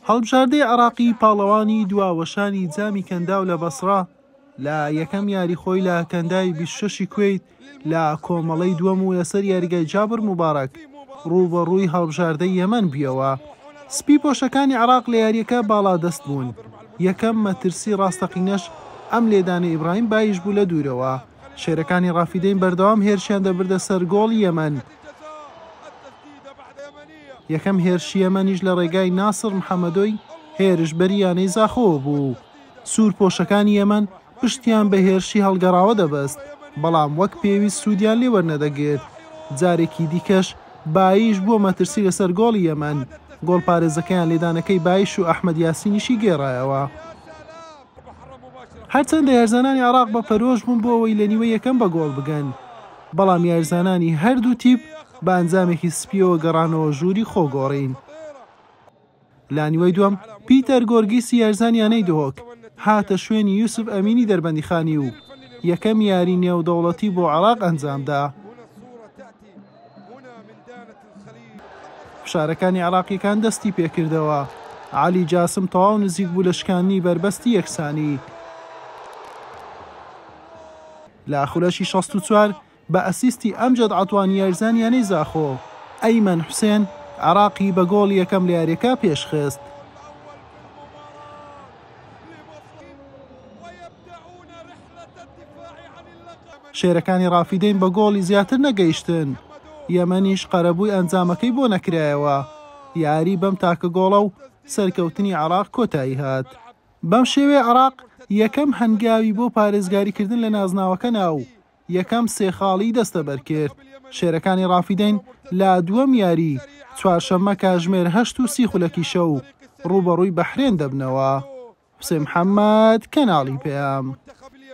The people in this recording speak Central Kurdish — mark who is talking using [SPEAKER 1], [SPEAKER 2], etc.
[SPEAKER 1] هەڵبژاردەی عێراقی پاڵەوانی دوا وەشانی جامی کەنداو لە بەسڕە لە یەکەم یاری خۆی لە کەنداوی بیست و شەش ی کوەیت لە کۆمەڵەی دووەم و لەسەر یاریگای جابر موبارەک رووبەڕووی هەڵبژاردەی یەمەن بویەوە. سپی پۆشەکانی عێراق لە یارییەکە باڵادەست بوون، یەکەم مەترسی راستەقینەش ئەم لێدانەی ئیبراهیم بایش بوو لە دوورەوە، شێرەکانی رافیدەین بەردەوام هێرشیان دەبردە سەر گۆڵی یەمەن، یەکەم هێرشی یەمەنیش لە ڕێگای ناسڕ محەمەدۆی هێرشبەری یانەی زاخۆوە بوو، سوورپۆشەکانی یەمەن پشتیان بە هێرشی هەڵگەڕاوە دەبەست، بەڵام وەک پێویست سوودیان لێ وەرنەدەگرت، جارێکی دیکەش باییش بووە مەترسی لەسەر گۆڵی یەمەن، گۆڵپارێزەکەیان لێدانەکەی باییش و ئەحمەد یاسینیشی گێڕایەوە. هەرچەندە یارزانانی عێراق بە پەرۆش بوون بۆ ئەوەی لە نیوەی یەکەم بە گۆڵ بگەن، بەڵام یارزانانی هەردوو تیپ بە ئەنجامێکی سپییەوە گەڕانەوە ژووری خۆگۆڕین. لانیوەی دووەم پیتەر گۆرگیسی یارزان یانەی دهۆک هاتە شوێنی یوسف ئەمینی دەربەندیخانی و یەکەم یاری نێودەوڵەتی بۆ عێراق ئەنجامدا. فشارەکانی عێراقییەکان دەستی پێکردەوە، عەلی جاسم تەواو نزیک بوو لە شکاندنی بەربەستی یەکسانی. لە خولەکی شەست و چوار بە ئەسیستی ئەمجەد عەتوانی یاریزان یانەی زاخۆ، ئەیمەن حوسێن عێراقی بە گۆڵی یەکەم لە یارییەکە پێشخست. شێرەکانی ڕافیدەین بە گۆڵی زیاتر نەگەیشتن، یەمەنیش قەرەبووی ئەنجامەکەی بۆ نەکرایەوە، یاریی بەم تاکە گۆڵە و سەرکەوتنی عێراق کۆتایی هات. بەم شێوەیە عێراق یەکەم هەنگاوی بۆ پارێزگاریکردن لە نازناوەکە نا و یەکەم سێ خاڵی دەستەبەرکرد. شێرەکانی ڕافیدەین لە دووەم یاریی، چوارشەممە کاژمێر هەشت و سی خولەکی شەو، ڕووبەڕووی بەحرێن دەبنەوە. حوسێن محەمەد، کەناڵی پەیام.